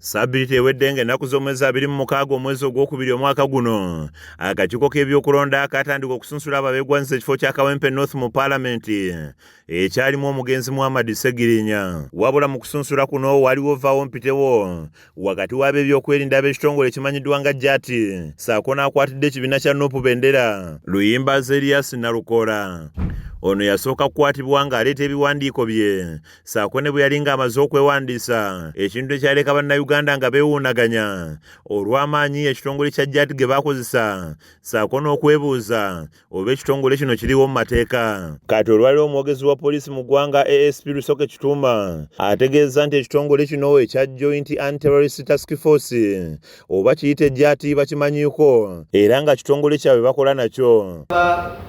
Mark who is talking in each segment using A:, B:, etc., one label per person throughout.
A: Ssabbiiti ewedde ng'ennaku z'omwezi abiri mu mukaaga omwezi ogwokubiri omwaka guno akakiiko k'ebyokulonda kaatandika okusunsula abo abeegwanyiza ekifo kya kawempe north mu paalamenti ekyalimu omugenzi muhammad ssegirinya wabula mu kusunsula kuno waliwo vaawo mpitewo wakati w'ab'ebyokwerinda ab'ekitongole ekimanyiddwa nga jati saako n'akwatidde ekibiina kya nupu bendera luyimba zeriyasi nalukoola ono yasooka kukwatibwa ng'aleeta ebiwandiiko bye saako ne bwe yali ng'amaze okwewandiisa ekintu ekyaleka bannayuganda nga beewuunaganya olw'amaanyi ekitongole kya jat ge baakozesa saako n'okwebuuza oba ekitongole kino kiriwo mu mateeka kati olwaliwo omwogezi wa poliisi mu ggwanga asp lusoke kituuma ategeezza nti ekitongole kino ekya joint anterorist task force oba kiyite ejjaati bakimanyiiko era nga kitongole kyabwe bakola nakyo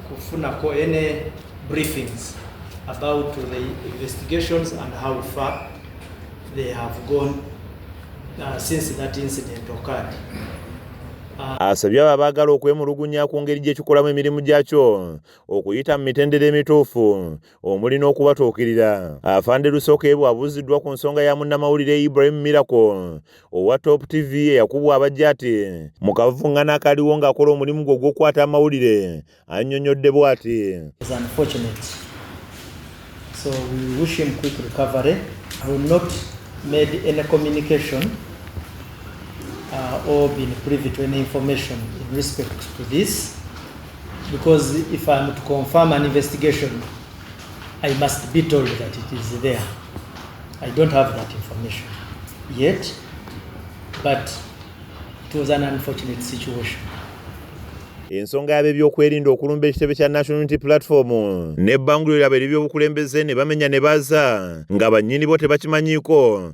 A: kufunako
B: ene briefings about the investigations and how far they have gone uh, since that incident occurred
A: asabye abo abaagala okwemulugunya ku ngeri gye kikolamu emirimu gyakyo okuyita mu mitendera emituufu omuli n'okubatuukirira afande lusokeebwa abuuziddwa ku nsonga ya munnamawulire ibrahim miracle owa top tv eyakubwa abajja ati mu kavungana akaliwo ng'akola omulimu gwe ogw'okukwata amawulire annyonnyodde bw'ati
B: So we wish him quick recovery. I will not made any communication uh, or been privy to any information in respect to this. because if I am to confirm an investigation, I must be told that it is there. I don't have that information yet, but it was an unfortunate situation.
A: ensonga yabebyokwerinda okulumba ekitebe kya national unity platform nebbanguliro lyabwe eryebyobukulembeze ne bamenya ne baza nga bannyini bo tebakimanyiiko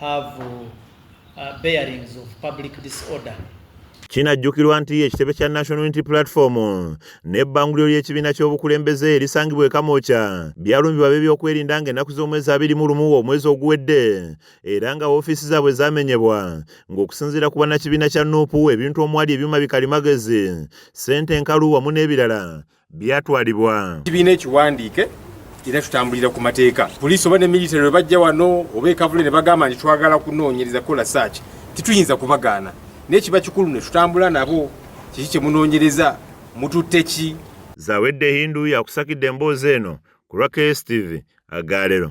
B: have uh, bearings of public disorder. Kinajjukirwa
A: nti ekitebe kya National Unity Platform n'ebbanguliro ly'ekibiina ky'obukulembeze erisangibwa e Kamwokya byalumbibwa ab'ebyokwerinda ng'ennaku z'omwezi abiri mu lumu omwezi oguwedde era nga woofiisi zaabwe zaamenyebwa ng'okusinziira ku bannakibiina kya nuupu ebintu omwali ebyuma bikalimagezi ssente enkalu wamu n'ebirala byatwalibwa kibiina ekiwandiike
C: era tutambulira ku mateeka poliisi oba ne military we bajja wano oba ekavule ne bagamba nti twagala kunoonyereza kola saaki tituyinza kubagaana naye kiba kikulu ne tutambula nabo kiki kye munoonyereza mututte ki
A: zawedde hindu yakusakidde emboozi eno
C: ku
A: lwa kstv agaalero